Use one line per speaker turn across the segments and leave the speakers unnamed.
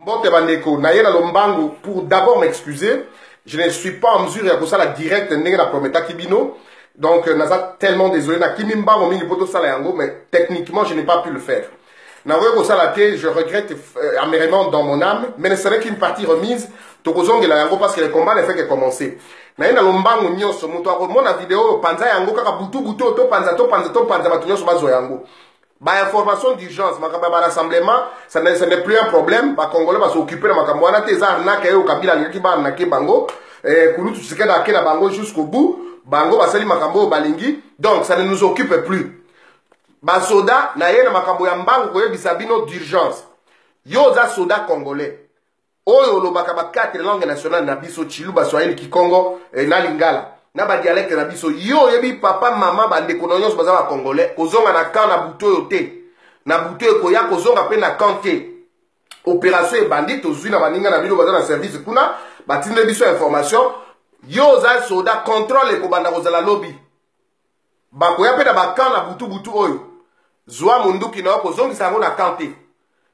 mbote bandeko naye na lombangu pour d'abord m'excuser je ne suis pas en mesure ya kosala direct ndenge na prometaki bino donc euh, naza tellement désolé nakimi mbango mingi mpo tosala yango mais techniquement je n'ai pas pu le faire nakoki kosala te je regrette euh, amèrement dans mon âme mais ne serait qu'une partie remise tokozongela yango parce que le combat ne fait que commencer naye na lombangu nyonso moto akomona video oyo panza yango kaka butu butu oyo topanza topanza topanza bato nyonso bazwa yango ba information d'urgence makambo ya barassemblement ce n'est plus un problème bacongolais basooccupe na makambo wana te eza arnake yayo kabila alingaki baarnake bango eh, kulutu tshisekedi ake na bango jusqu'au bout bango basali makambo oyo balingi donc ça ne nous occupe plus basoda na ye na makambo ya mbangu koyebisa bino d'urgence yo oza soda congolais oyo olobaka ba quatre langue nationale na biso chiluba swahili kikongo eh, na lingala na badialekte na biso yo oyebi papa mama bandeko na nyonso baza bacongolais kozonga na camp na butu oyo te na butu ekoya kozonga mpe na camp te opération ebandi tozwi na baninga na bino baza na service kuna batindeli biso information yo oza soda contrôle ekobanda kozala lobi bakoya mpe na bakan na butubutu oyo zwa monduki na yo kozongisa yango na kan te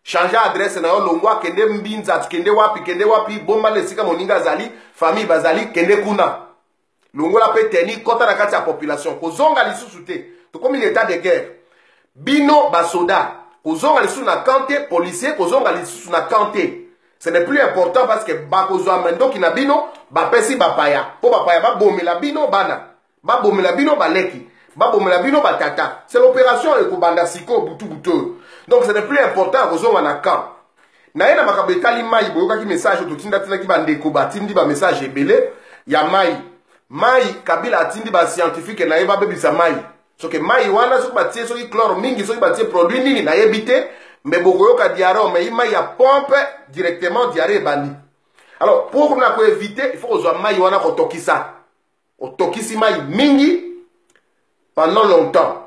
change adresse na yo longwa kende mbinza kende wapi kende wapi bomba na esika moninga azali famille bazali kende kuna longola mpe teni kota na kati ya population kozonga lisusu te tokomi na etat de guerre bino basoda kozonga lisusu na kan te policier kozonga lisusu na kan te ce n'est plus important parce que bakozwa mandoki na bino bapesi bapaya mpo bapaya babomela bino bana babomela bino baleki babomela bino batata c'est l'opération ekobanda sikoyo butu butu oyo donc ce n'est plus important ya kozonga na camp naye na makambo etali mai boyokaki message oyo totindatinaki bandeko batindi bamessage ebele ya mai mai kabila atindi bascientifique na ye babebisa mai soki mai wana soki batie soki clore mingi soki batie produit nini nayebi te me bokoyoka diare omei mai ya pompe directement diare ebandi alors pour na koevite il faut kozwa mai wana kotokisa otokisi mai mingi pendant longtemps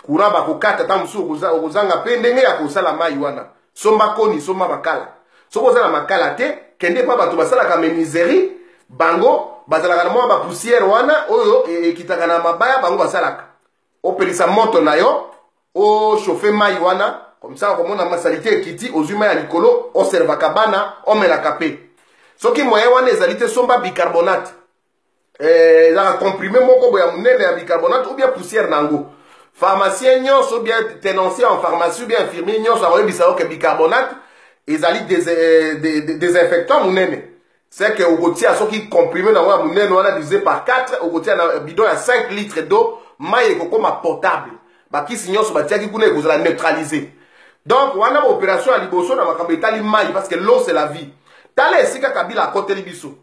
courant bakokata ntango mosusu okozanga mpe ndenge ya kosala mai wana somba koni somba makala soki oza na makala te kende mpa bato basalaka menuiserie bango bazalaka na mwa bapusiere wana oyo e, ekitaka na mabaya bango basalaka opelisa moto na yo oshofe mai wana komisa okomona masalite ekiti ozwi mai ya likolo oservaka bana omelaka mpe soki moyen wana ezali te somba bicarbonate eh, ezalaka comprime moko boya monene ya bicarbonate ou bien poussière na yango pharmacien nyonso ou bien tenancier en pharmacie ou bien infirmier nyonso akoyebisa yo ke bicarbonate ezali desinfectant monene c'est que okotia soki comprime na yango ya monene wana divise par 4 okotia na bidon ya 5 litre d'eau mai ekokoma potable bakisi nyonso batiaki kuna ekozala neutralise donc wana baopération ya liboso na makambo etali mai parce que l'eau c'est la vie tala esika kabila akoteli biso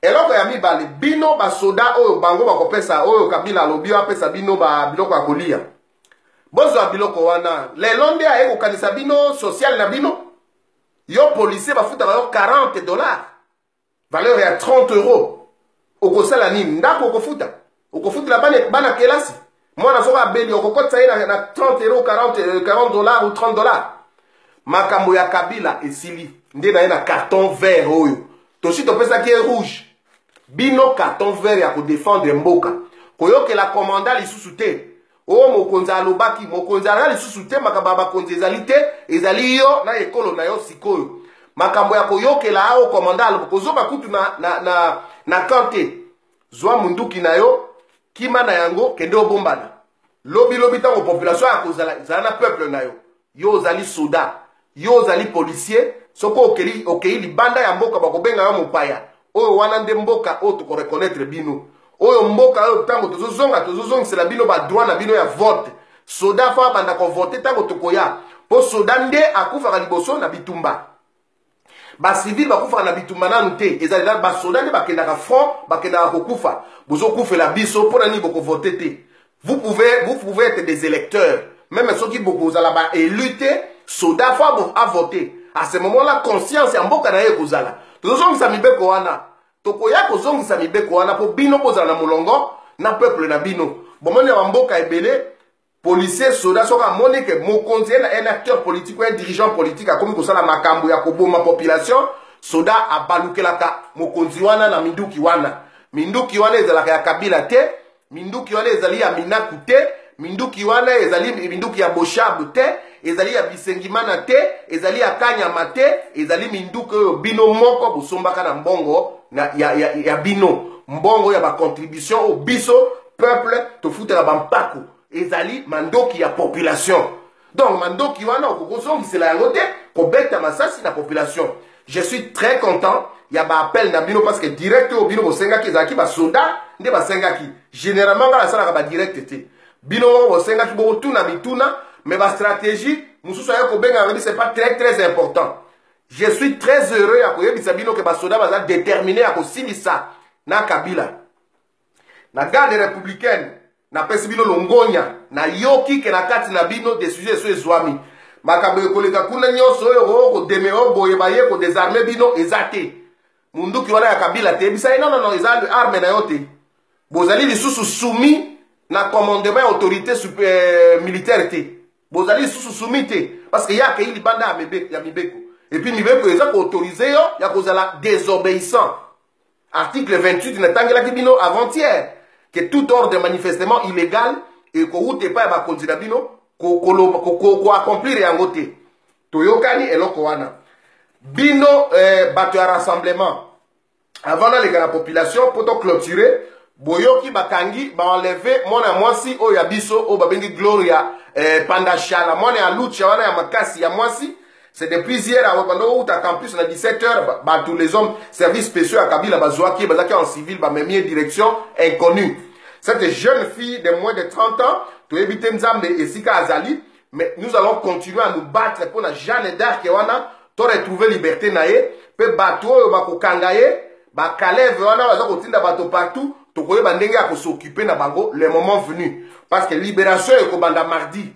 eloko ya mibale bino basoda oyo bango bakopesa oyo kabila alobi apesa bino biloko ya kolia bozwa biloko wana lelo nde aye kokanisa bino sosiale na bino yo policier bafutaka yo 40 dollars valeur ya 30 euro okosala nini ndako okofuta okofutela bana bana kelasi mwana soki abeli okokotisa ye na, na 30 euro 40, 40 dollar ou 30 dollar makambo ya kabila esili nde na ye na carton vert oyo tosi topesaki ye rouge bino carton vert ya kodefendre mboka koyokela komanda lisusu te oyo mokonzi alobaki mokonzi aza lisusu te makambo ya bakonzi ezali te ezali yo na ekolo na yo sikoyo makambo ya koyokela ao komanda aloba kozoba kutu na, na, na, na kan te zwa munduki na yo kima na yango kende obombana lobi lobi ntango population ya kozala zala na peuple na yo yo ozali soda yo ozali policier soki okei okay, libanda ya mboka bakobenga yo mopaya oyo wana nde mboka oyo tokoreconnaitre bino oyo mboka oyo ntango tozozonga tozozongisela bino badroit na bino ya vote soda fo abanda kovote ntango tokoya mpo soda nde akufaka liboso na bitumba bacivile bakufaka na bitumba nanu te ezali nanu basoda nde bakendaka front bakendaka kokufa bozokufela biso mpo na nini bokovote te vous pouvez, vous pouvez être des électeurs meme soki bokozala baélu te soda fo avote à ce moment là conscience ya mboka na ye ekozala tozozongisa mibeko wana tokoya kozongisa mibeko wana mpo bino bozala na molongo na peuple na bino bomoni ya bamboka ebele policier soda soki amoni ke mokonzi ye na un acteur politique un dirigeant politique akomi kosala makambo ya koboma population soda abalukelaka mokonzi wana na minduki wana minduki wana ezalaka ya kabila te minduki wana ezali ya minaku te minduki wana ezali minduki ya boshabu te ezali ya bisengimana te ezali ya kanyama te ezali minduki oyo bino moko bosombaka na mbongo na, ya, ya, ya bino mbongo ya bacontribution oyo biso peuple tofutela bampako ezali mandoki ya population donc mandoki wana okoki kozongisela yango te kobeta masasi na population je suis très content ya baappel na bino parce que direct oyo bino bosengaki ezalaki basoda nde basengaki généralement ngai nasalaka badirect te bino moko bosengaki bokotuna mituna mais bastratégie mosusu aye kobenga yango c'est pas très très important je suis très heureux ya koyebisa bino ke basoda baza détermine ya kosilisa na kabila na garde républicaine napesi bino longonya nayoki ke na kati na bino desizio eso ezwami makambo ekoleka kuna nyonso oyo okodeme oyo boye baye kodesarme bino eza te munduki wana ya kabila te yebisa ye nonono eza arme na yo te bozali lisusu sumi na commandement ya autorité euh, militaire te bozali lisusu sumi te parce que ye akei libanda ya mibeko epuis mibeko eza koautorize yo ya kozala désobéissant article 28 natangelaki bino avant-hier que tout ordre manifestement illégal ekowuta epai ya bakonzi na bino koaccomplir yango te toyokani eloko wana bino eh, bato ya rassemblement avant naleka na population mpo toclotire boyoki bakangi baenleve mwana ya mwasi oyo ya biso oyo babengi gloria eh, pandashala mwana ya lucha wana ya makasi ya mwasi C'est de plusieurs awa banda outa campus na 17 heures ba tous les hommes services spéciaux à Kabila bazuaki bazaki en civil ba memie direction inconnue. Cette jeune fille de moins de 30 ans to ebite Nzambe esika azali mais nous allons continuer à nous battre pour la Jeanne d'Arc wana to retrouver liberté na ye pe bato oyo bakokanga ye ba Caleb wana baza kotinda bato partout tokoyeba ndenge ya ko s'occuper na bango le moment venu parce que libération ekobanda mardi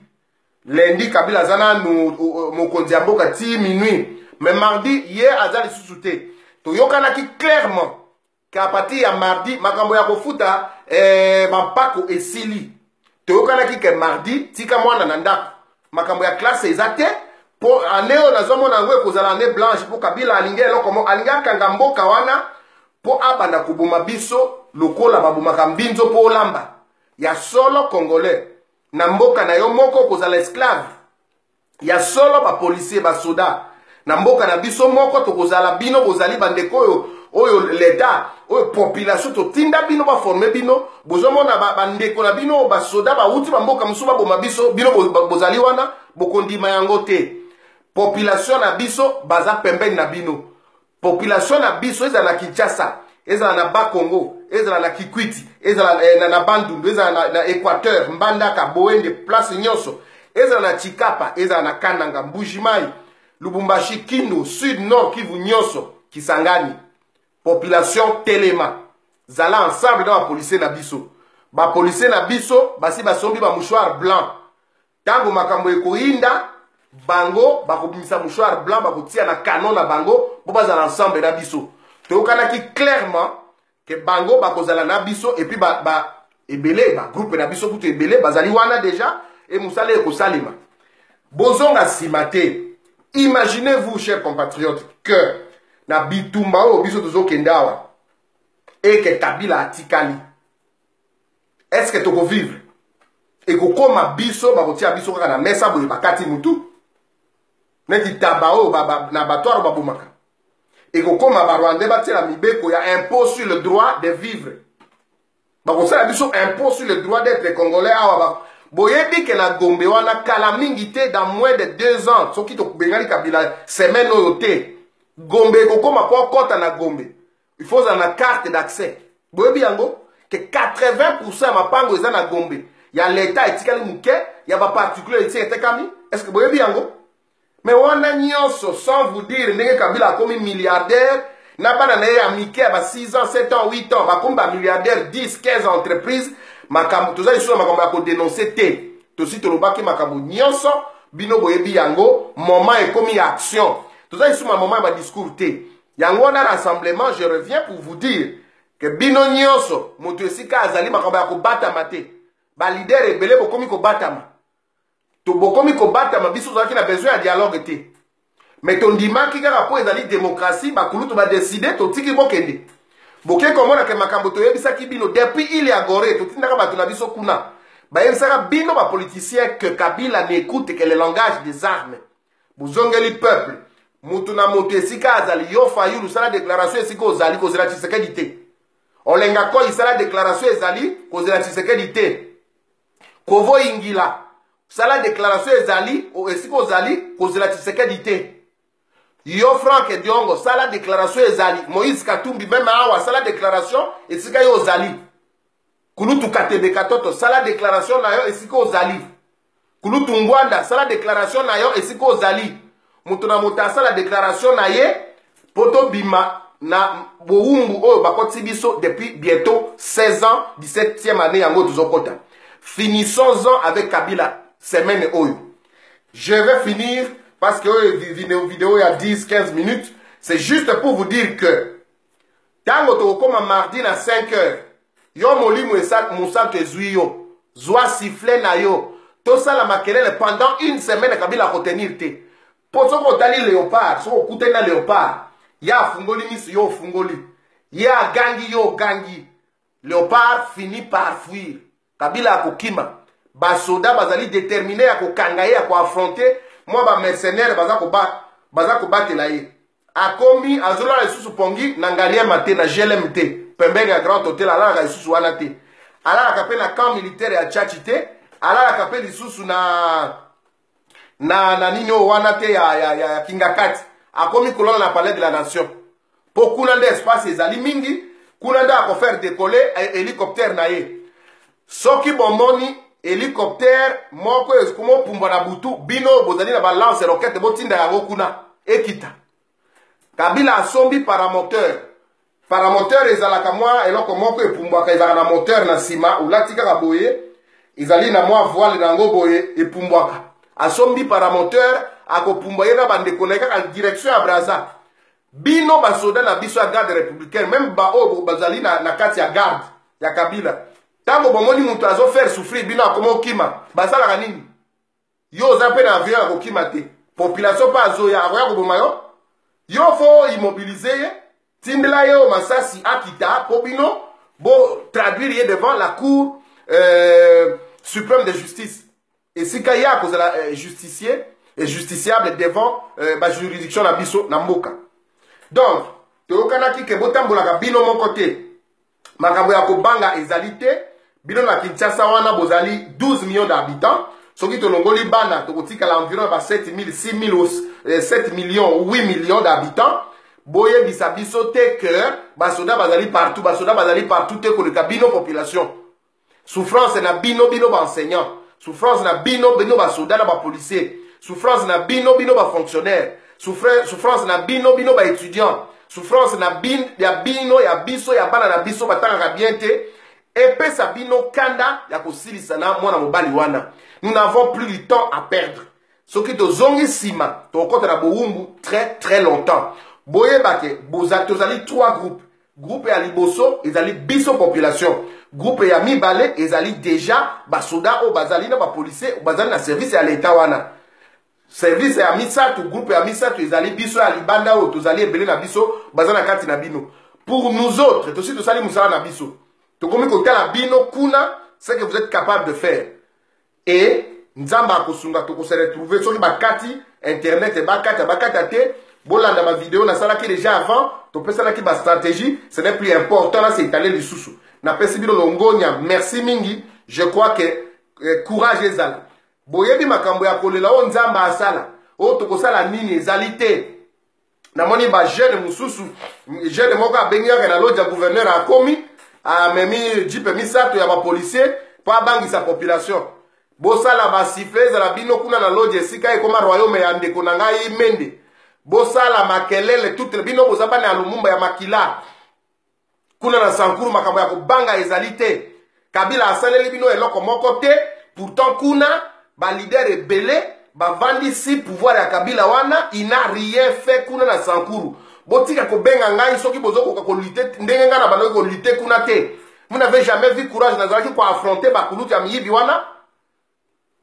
lundi kabila aza nanu mokonzi ya mboka ti minuit mais mardi ye aza lisusu te toyokanaki clairement ke a partir ya mardi makambo ya kofuta eh, bampako esili toyokanaki ke mardi tika mwana na ndako makambo ya klase eza te mpo ane oyo nazomona yango ekozala ane blanche mpo kabila alingi eloko mo alingi akanga mboka wana mpo abanda koboma biso lokola babomaka mbinzo mpo olamba ya solo congolais na mboka na yo moko kozala esclave ya solo bapolisier basoda na mboka na biso moko tokozala bino bozali bandeko oyo oyo leta oyo population totinda bino baforme bino bozomona bandeko na bino oyo basoda bauti bamboka mosusu baboma biso bino bozali wana bokondima yango te population na biso baza pembeni na bino population na biso ezala na kinshasa ezala na bas congo ezala na kikwiti ezala eh, na, na bandundu ezala na, na équateur mbandaka boende place nyonso ezala na chikapa ezala na kananga mbujimai lubumbashi kindu sud nord kivu nyonso kisangani population telema zala ensemble na bapolisier na biso bapolisier na biso basi basombi bamouchoir blanc ntango makambo ekoyinda bango bakobimisa mouchoir blanc bakotia na canon na bango mpo bazala ensemble na biso toyokanaki clairement ke bango bakozala na biso epuis ba, ba, ebele bagroupe na biso kutu ebele bazali wana deja e mosala ekosalema bozonga nsima te imaginez vous cher compatriote que na bitumba oyo biso tozokende awa eke kabila atikali est ce que toko vivre ekokoma biso bakotia biso kaka na mesa boye bakati mutu neti taba oyo na batwaro babomaka ekokoma barwandais batiela mibeko ya impôt sur le droit de vivre bakosala biso impôt sur le droit d'être congolais awa boyebi ke na gombe wana kala mingi te dans moins de deux ans soki tobengani kabila semaine oyo te gombe ekokoma mpo akɔta na gombe il faut ozala na carte d'accès boyebi yango ke 80 ya mapango eza na gombe ya leta etikali moke ya baparticulier esi etekami estce boyebi yango me wana nyonso sans vous dire ndenge kabila akomi milliardaire na bana na ye ya mike ya ba 6 ans 7 ans 8 ans bakomi bamilliardaire 10 15 entreprise makambo toza lisusu na makambo ya kodenonse te tosi tolobaki makambo nyonso bino boyebi yango moment ekomi ya action toza lisusu na moment ya badiscours te yango wana rassemblement je reviens pour vous dire ke bino nyonso moto esika azali makambo ya kobatama te balidere ebele bokomi kobatama to bokomi kobatama biso tozalaki na besoin ya dialogue te me tondimaki kaka mpo ezali demokrasi bakulutu badeside totiki bokende boke komona ke makambo toyebisaki bino depuis il ya gore totindaka bato na biso kuna bayebisaka bino bapoliticien ke kabila n'ecoute ke le langage des armes bozongeli peuple moto na moto esika azali yo fayulu sala deklaration esika ozali kozela tshisekedi te olenga koi sala deklaration ezali kozela tshisekedi te kovo ingila sala deklaration ezali esika ozali kozela tshisekedi te yo frank diongo sala deklaration ezali moïse katumbi meme awa sala deklaration esika yo ozali kulutu katebe katoto sala declaration na yo esika ozali kulutu ngwanda sala declaration na yo esika ozali moto na moto asala declaration na ye mpo tobima na bowumbu oyo bakoti biso depuis bientôt 16 ans 17e année yango tozokota finissons en avec kabila semaine oyo je vais finir parce que oyo video ya 10 15 minutes c'est juste pour vous dire que ntango tokokoma mardi na 5 heures yo molimo mosantu ezwi yo zwa sifle na yo tosala makelele pendant une semaine kabila akotenir te mpo soki otali leopard soki okutani na leopard ye afungoli miso yo ofungoli ye agangi yo ogangi leopard fini par fuir kabila akokima basoda bazali determine ya kokanga ye ya koafronte mwa bamercenaire baza kobatela ye akomi azolala lisusu pongi na ngaliema te na glm te pembeni ya grand hotel alalaka lisusu wana te alalaka mpe na camp militaire ya chachi te alalaka mpe lisusu na na na nini oyo wana te ya, ya, ya, ya kingakati akomi kolala na palais de la nation mpo kuna nde espace ezali mingi kuna nde akofaire dekole eh, hélicoptère na ye soki bomoni hélicoptère moko ekomopumbwa na butu bino bozali na balance rokete botinda yango kuna ekita kabila asombi paramoteur paramoteur ezalaka mwa eloko moko epumbwaka ezalaka na moteur na nsima olati kaka boye ezali na mwa voile na yango boye epumbwaka asombi paramoteur akopumbwa ye na bandeko na ye kaka direction ya braza bino basoda na biso ya garde républicaine meme baoyo bazali na, na kati ya garde ya kabila ntango bomoni moto azofaire souffrir bino akoma okima basalaka nini yo oza mpe na avion ya kokima te population mpe azoya akoya koboma yo yo fo immobilize ye tindela ye oyo masasi akita mpo bino bo traduire ye devant la cour euh, suprême de justice esika ye akozala euh, justicie et justiciable devant euh, bajuridiction na biso na mboka donc toyokanaki ke botambolaka bino moko te makambo ya kobanga ezali te bino na kinshasa wana bozali 12 millions d'habitants soki tolongoli bana tokotikala environ ya ba 7000 6000 7 millions 8 millions d'habitants boyebisa biso te ke basoda bazali partout basoda bazali partout te koleka bino population souffrance na bino bino ba enseignant souffrance na bino bino ba soda na ba policier souffrance na bino bino ba fonctionnaire souffrance na bino bino ba étudiant souffrance na bin, ya bino ya biso ya bana na biso batangaka bien te epesa bino kanda ya kosilisa na mwana mobali wana nous n'avons plus du temps à perdre soki tozongi nsima tokokɔta na bowumbu très très longtemps boyebake tozali trois groupes Groupe ya liboso ezali biso population. Groupe ya mibale ezali deja basoda oyo bazali na bapolisie bazali na service ya leta wana. Service ya misato, groupe ya misato ezali biso ya libanda oyo tozali ebele na biso baza na kati na bino. Pour nous autres, tosi tosali mosala na biso. Tokomi kotala bino kuna ce que vous êtes capable de faire. et nzambe akosunga tokose retrouver soki bakati internet bakata bakata te bolanda bavideo nasalaki déjà avant topesanaki bastratégie ce n'est plus important na seitale lisusu napesi bino longonya merci mingi je crois que eh, courage ezala boyebi makambo ya kolela oyo nzambe asala oyo tokosala nini ezali te namoni ba jeune mosusu jeune moko abengi yaka na loja gouverneur akomi amemi jipe misato ya bapolicier mpo abangisa population bosala basifle ezala bino kuna na loja esika ekoma royaume ya ndeko na ngai mende bosala makelele tutele bino boza bana ya lumumba ya makila kuna na sankuru makambo ya kobanga ezali te kabila asaleli bino eloko moko te pourtant kuna balidere ebele bavandisi pouvoir ya kabila wana ina rien fait kuna na sankuru botika kobenga ngai soki bozokoka kolite ndenge ngai na bandoki kolite kuna te vous n'avez jamais vu courage nazalaki koaffronte bakulutu ya miyibi wana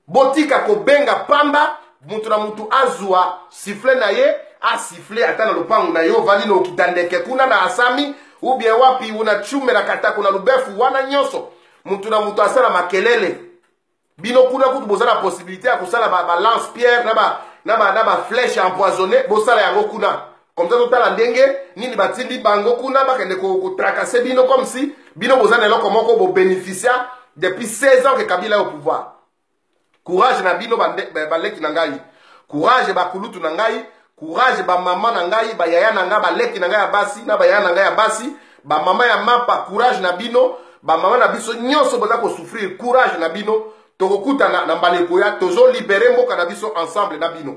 botika kobenga pamba mutu na mutu azwa sifle na ye asifle ata na lopango na ye ovandi na okita ndeke kuna na asami ubie wapi una chume na katako na lubefu wana nyonso mutu na mutu asala makelele bino kuna kutu boza na possibilité ya kosala balance pierre na ba na ba na ba flèche empoisonné bosala yango kuna komza totala ndenge nini batindi bango kuna bakende kotrakase bino comme si bino boza na eloko moko bobeneficia depuis 16 ans ke kabila yo pouvoir courage na bino baleki na ngai courage bakulutu na ngai courage bamama na ngai bayaya na ngai baleki na ngai ya basi na bayaya na ngai ya basi bamama ya mapa courage na bino bamama na biso nyonso boza kosouffrir courage na bino tokokutana na mbala ekoya tozolibere mboka na biso ensemble na bino